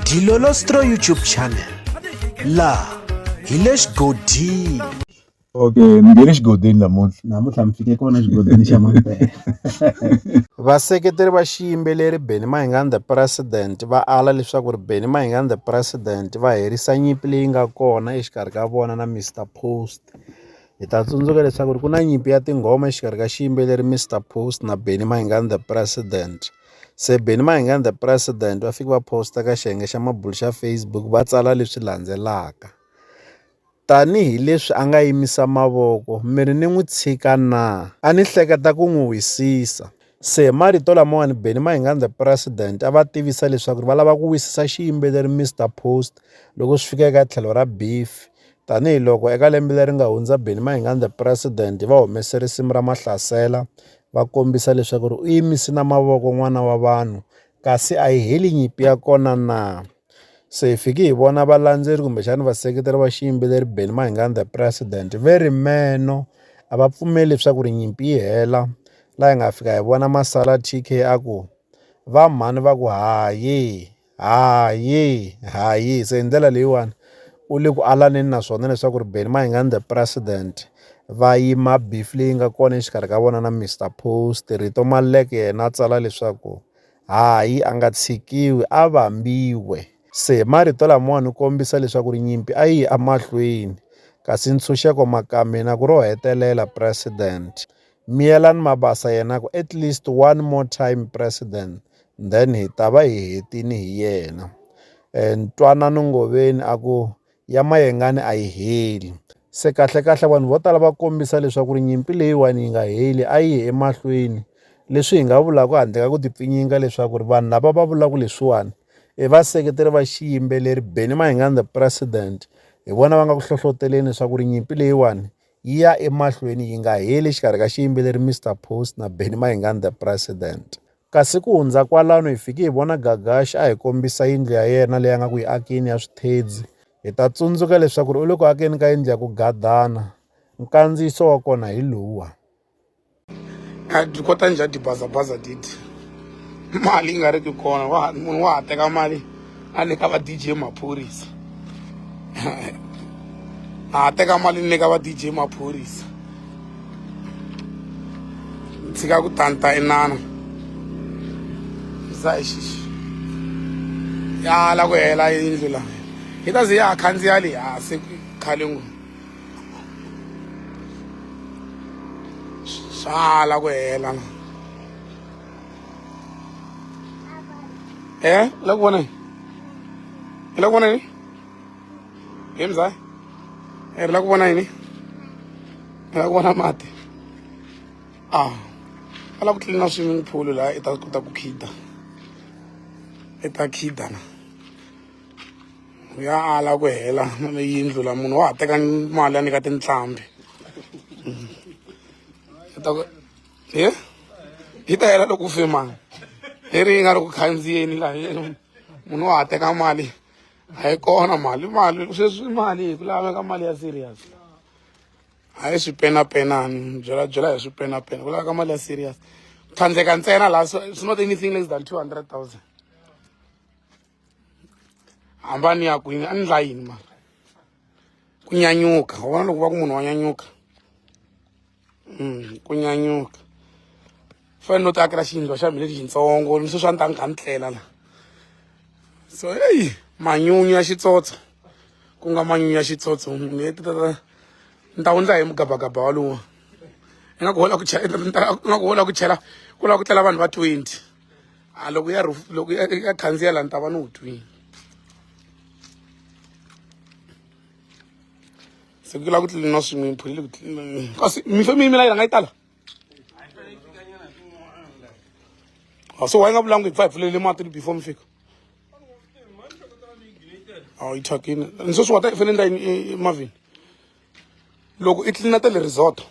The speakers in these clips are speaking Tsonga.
Dilolostro YouTube channel la hi le xigodini okay mi nge le xigodini namuntlha namuntlha mi fike kona xigodini xa mampela vaseketeri va xiyimbeleri benny mahingani the president va ala leswaku ri benny mahingani the president va herisa nyimpi leyi nga kona exikarhi ka vona na mr post hi ta tsundzuka leswaku ri ku na nyimpi ya tinghoma exikarhi ka xiyimbeleri mr post na benny mahingani the president Se Benny Mayengani the president va fike va post-a ka xiyenge xa mabulo xa Facebook va tsala leswi landzelaka, tanihi leswi a nga yimisa mavoko mi ri ni n'wi tshika na? A ni hleketa ku n'wi wisisa. Se hi marito lamawani Benny Mayengani the president a va tivisa leswaku va lava ku wisisa xiyimbeleri Mister Post loko swi fika eka tlhelo ra beef Tanihi loko eka lembe leri nga hundza Benny Mayengani the President va humese risimu ra Mahlasela va kombisa leswaku ri u yimisi na mavoko n'wana wa vanhu kasi a yi heli nyimpi ya kona na. Se hi fiki hi vona valandzeri kumbexana vaseketeri va xiyimbeleri Benny Mayengani the President ve ri meno a va pfumeli leswaku ri nyimpi yi hela la hi nga fika hi vona Masala T_K a ku va mhani va ku hayi. Hayi hayi se hi ndlela leyiwani u le ku alaneni na swona leswaku ri Benny Mayengani the president va yima beef leyi nga kona exikarhi ka vona na Mister Post Rito Maluleke yena a tsala leswaku hayi a nga tshikiwi a vambiwe se marito lamawani u kombisa leswaku ri nyimpi a yi emahlweni kasi ntshunxeko maka mina ku ro hetelela president Miyelani Mabasa yena ku at least one more time president then hi ta va hi hetini hi yena eh, ntwanano ngoveni a ku ya mayengani a yi heli se kahlekahle vanhu vo tala va kombisa leswaku ri nyimpi leyiwani yi nga heli a yi ye emahlweni leswi hi nga vulaka handle ka ku tipfinyinga leswaku ri vanhu lava va vulaka leswiwani i e vaseketeri va xiyimbeleri beni mahingani the president hi vona va nga ku hlohloteleni leswaku ri nyimpi leyiwani yi ya emahlweni yi nga heli exikarhi ka xiyimbeleri Mr Post na Benny Mayengani the President. Kasi ku hundza kwalano hi fike hi vona Gagash a hi kombisa yindlu ya yena leyi a nga ku yi akini ya swithedzi. Hi ta tsundzuka leswaku ri u le ku akeni ka yindlu ya ku gadana. Nkandziyiso wa kona hi lowuwa. a ti kota njhani tibazabhaza titi mali yi nga ri ki kona wa munhu wa ha teka mali a nyika va dj maphorisa a ha teka mali ni nyika va dj maphorisa ni tshika ku tanta inana za hi xixi ya la ku hela yindlu la yi ta ze ya ha khandziya le hansi khale ngopfu sala ku hela na eh la ku vona hi la ku vona yini hi mzaa hi la ku vona yini hi la ku vona mati ah a la ku tlilina swimming pool laha i ta kota ku khida i ta khida na ya ala ku hela yindlu la munhu wa ha teka mali ya nyika tinhlambi ye yi ta hela loko fima leri yi nga ri ku khandziyeni la munhu wa ha teka mali a yi kona mali mali sweswi mali hi ku laveka mali ya serious a yi swipenapenani byela byela hi swipenapena ku laveka mali ya serious tlhandleka ntsena laha it's not anything less than two hundred thousand hambani ya ku yi nga endla yini ma ku nyanyuka u vona loko va ku munhu wa nyanyuka mm, ku nyanyuka fanele no ti akela xiyindlo xa mina lexi xitsongo ni swi swa ni ta ni kha ni tlela la so eyi manyunyu ya xitsotso ku nga manyunyu ya xitsotso ni ta ni ta wundla hi mugabagaba walowo ingaku hola ku chela ingaku hola ku chela ku lava ku tlela vanhu va twenty a ah, loko ya loko ya khandziya la ni ta va ni wu twini se ku lava ku tlilina swin'we phuli le ku tlilina kasi mihlo mi yimela yi rhanga yi tala ah, so wa yi nga vulangi hi pfa hi pfulelele mati before mi fika awu yi thyakini ni sweswi wa ta i fanele ni ta yini emavhini loko i tlilina ta le resort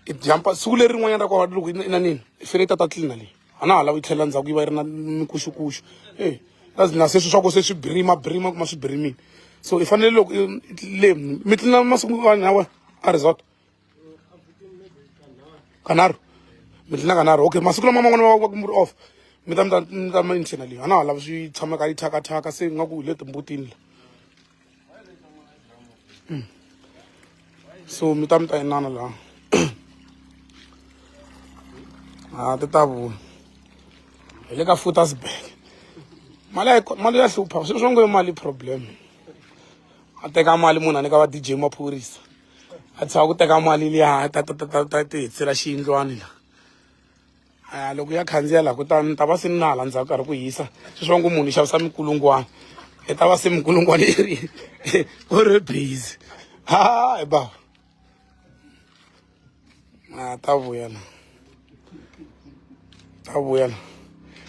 i jampa siku leri rin'wanyana ra kona loko i na nini i fanele i tata tlilina leyi a na ha lavi yi tlhelela ndzhaku yi va yi ri na mikuxukuxu e na se swi swa ku se swi birima birima kuma swi birimile so i fanele loko le mi tlilina masiku vanhu lawa a resort kanharhu mi tlilina kanharhu okay masiku lama man'wana va va ku mi ri off mi ta mi ta mi ta ma internally a na ha lavi swi tshamaka yi thyakathaka se ingaku hi le timbutini la so mi ta mi ta inana la a ti ta vuya hi le ka futasburg mali ya mali ya hlupha swilo swa ngo mali problem a teka mali munhu a nyika va dj maphorisa a tshava ku teka mali liya ta ta ta ta ta ti hetsela xiyindlwani la a loko ya khandziya laha kutani ni ta va se ni na hala ndzhaku karhi ku hisa sweswi va ngo munhu xavisa mikulungwana i ta va se mikulungwana yi ri ku ri busy hayi ba a ta vuya la ta vuya la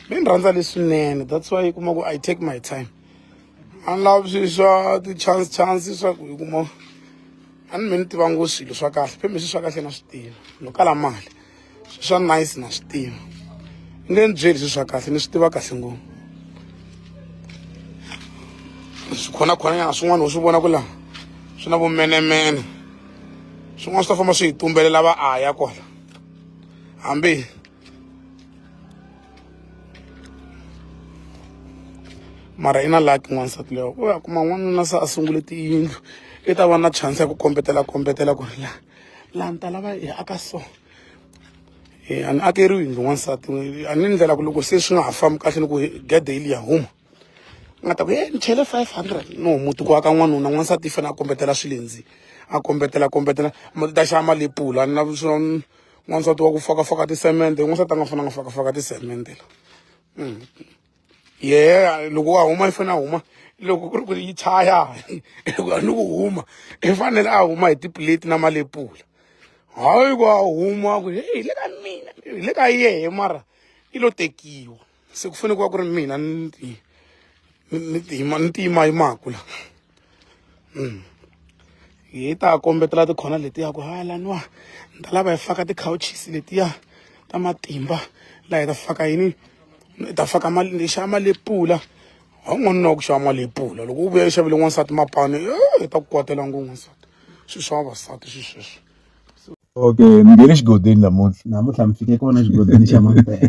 mi ni rhandza leswinene that's why yi kuma ku i take my time a ni lavi swi swa ti-chance chance swa ku yi kuma a ni mi ni tiva ngo swilo swa kahle phe mi swi swa kahle na swi tiva no kala mali swa nice na swi tiva ni nge ni byeli swi swa kahle ni swi tiva kahle ngopfu swi khonakhona nyana swin'wana u swi vona ku laha swi na vumenemene swin'wana swi ta famba swi hi tumbelela va aya kona hambi mara i na laki n'wansati leyo u ya kuma n'wanuna se a sungule tiyindlu i ta va na chance ya ku kombetela kombetela ku ri laha laha ni ta lava hi aka so eh, a ni akeriwi yindlu n'wansati a ni ndlela ku loko se swi nga ha fambi kahle ni ku gede yi liya huma nga ta ku e ni chele five hundred no muti ku aka n'wanuna n'wansati yi fanele a kombetela swilendzi a kombetela kombetela ta xava mali yi pula na n'wansati wa ku fakafaka tisemende n'wansati a nga fanele a nga fakafaka tisemende la mm. yeah loko wa huma i fanele a huma loko ku ri ku ri yi chaya loko a ni ku huma i fanele a huma hi tiplate na malepula hayi ku a huma ku hi le ka mina hi le ka yehe mara i lo tekiwa se ku fanele ku va ku ri mina ni ti ni ti ni tiyimayimaku la hi ta kombetela tikhona letiya ku ha laniwa ni ta lava hi faka ti-couches letiya ta matimba laha hi ta faka yini hi ta faka mali ni xava mali yo pula ha n'wanuna na ku xava mali yo pula loko u vuya yi xavile n'wansati mapani hi ta ku kwatela ngo n'wansati swilo swa vavasati swi sweswo okay ni nge le xigodini namuntlha namuntlha mi fike kona xigodini xa mampela